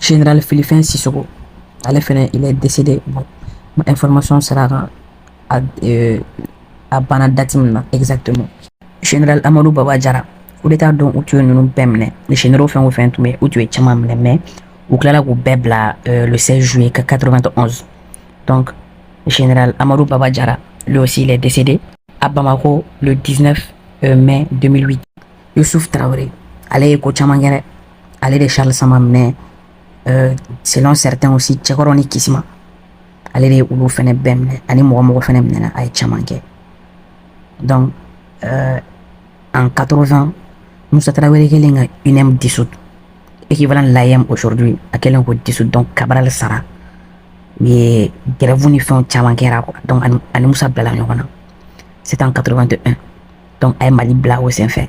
General Filifɛn Sisoko ale fɛnɛ il est décédé bon n ma information sɔrɔ a kan a, euh, a banna date min na exactement General Amadou Baba Jara coup d'état don u tun ye ninnu bɛɛ minɛ ni généraux fɛn o fɛn tun bɛ u tun ye caman minɛ mais u tilala k'u bɛɛ bila euh, le 16 juillet 91 donc général Amadou Baba Jara lui aussi il est décédé à Bamako le 19 euh, mai 2008 Youssouf Traoré ale ye ko caman kɛ dɛ ale de charles samba minɛ euh, selon certains aussi cɛkɔrɔ ni kisima ale de ye olu fɛnɛ bɛɛ minɛ ani mɔgɔ mɔgɔ fɛnɛ minɛna a ye caman kɛ donc euh, en 80 musa tarawele kɛlen ka uneem dissout équivalent l'aeem aujourd'hui a kɛlen k'o dissout donc cabral sara mais grève ni fɛnw caman kɛra quoi donc a ni musa bilala ɲɔgɔn na c'est en 81 donc a ye mali bila o senfɛ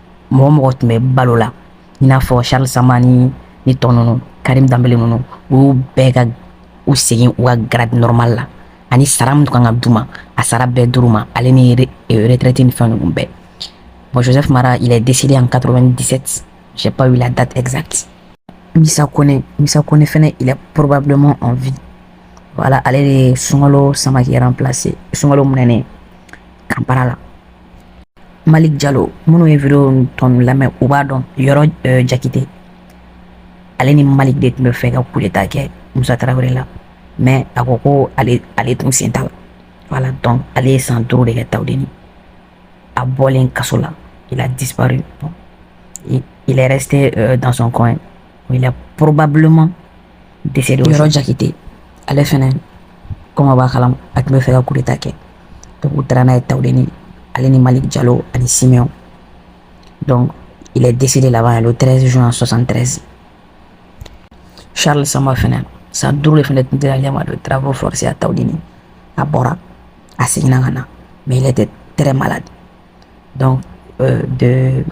mɔgɔ mɔgɔ tun bɛ balo la i n'a fɔ charles samba ni ni tɔ ninnu karim danbele ninnu u y'u bɛɛ ka u segin u ka grade normal la ani sara min kan ka d'u ma a sara bɛɛ d'u ma ale ni euh, retraite ni fɛn ninnu bɛɛ bon joseph mara il est décédé en 97 j'ai pas eu la date exacte misa kone misa kone fɛnɛ il est probablement en vie voilà ale de ye sunkalo samake remplacer sunkalo minɛnen camp para la malik jalo minnu ye video tɔnu lamɛn u b'a dɔn yoro eh, jakite ale ni malik de tun b'a fɛ ka coup d'état kɛ musa tarawele la mais a ko ko ale tun sen t'a la voilà donc ale ye san duuru de kɛ tawudeni a bɔlen kaso la il a disparu bon, il est resté euh, dans son coin il est probablement décédé yoro jakite ale fɛnɛ comme aw b'a kalama a tun b'a fɛ ka coup d'état kɛ donc u taara n'a ye tawudeni ale ni malik jalo ani siméon donc il est décédé là-bas le 13 juin 73 charles samba fɛnɛ san duuru de fɛnɛ tun dira ale ma de travaux forcés à tawudeni a bɔra a seginna ka na mais il était très malade donc euh, de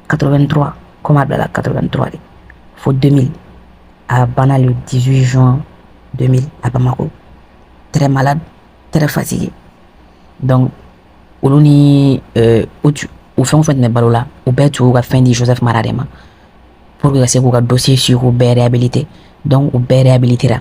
83 comme a bilala 83 fo 2000 a banna le 18 juin 2000 à Bamako très malade très fatigué donc olu ni euh, u u fɛn o fɛn tun bɛ balo la u bɛɛ tun y'u ka fɛn di joseph mara de ma pour que ka se k'u ka dossier suivre k'u bɛɛ réhabilité donc u bɛɛ réhabilitera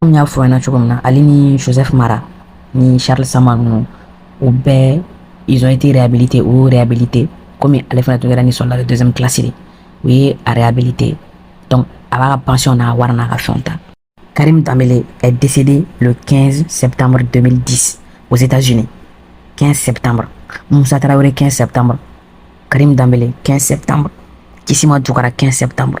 komi n y'a fɔ aw ɲɛna cogo min na ale ni joseph mara ni charles samba ninnu u bɛɛ ils ont été réhabilités u y'u réhabilité komi ale fana tun kɛra ni soldat de deuxième classe de u ye a réhabilité donc a b'a ka pension n'a wari n'a ka fɛnw ta karim dambele est décédé le 15 septembre 2010 aux états-unis 15 septembre musa tarawele 15 septembre karim dambele 15 septembre kisima dukara 15 septembre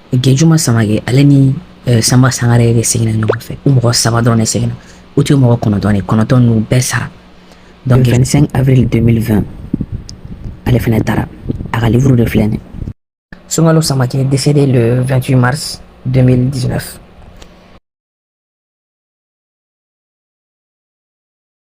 Gejuma Samake ale ni eh, Sanba Sangare de seginna ɲɔgɔn fɛ u mɔgɔ saba dɔrɔn de seginna u tun ye mɔgɔ kɔnɔntɔn de kɔnɔntɔn ninnu bɛɛ sara donc 25 avril 2020 ale fɛnɛ taara a ka livre de filɛ nin Sunkalo Samake est décédé le 28 mars 2019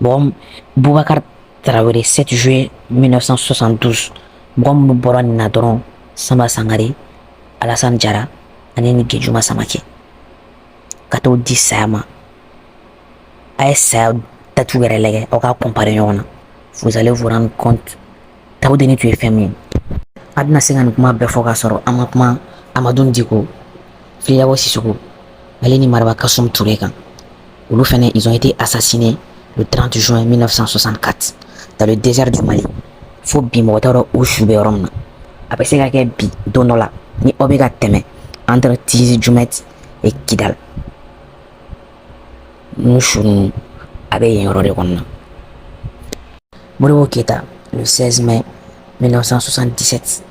Bon Boubacar Traoré 7 juillet 1972 mɔgɔ minnu bɔra nin na dɔrɔn Sanba Sangare Alassane Diarra ani ni Gejuma Samake ka tɔw di saya ma a ye saya datiw yɛrɛ lajɛ aw k'a comparer ɲɔgɔn na vous allez vous rendre compte tawudeni tun ye fɛn min ye an tɛna se ka nin kuma bɛɛ fɔ k'a sɔrɔ an ma kuma amadun diko fili dabo sisoko ale ni maraba kasum ture kan olu fɛnɛ ils ont été assassinés le 30 juin 1964 dans le désert du mali fo bi mɔgɔ t'a dɔn u su bɛ yɔrɔ min na a bɛ se ka kɛ bi don dɔ la ni aw bɛ ka tɛmɛ entre tizi jumɛti et kidal n'u su ninnu a bɛ yen yɔrɔ de kɔnɔna modibo keyita le 16 mai 1977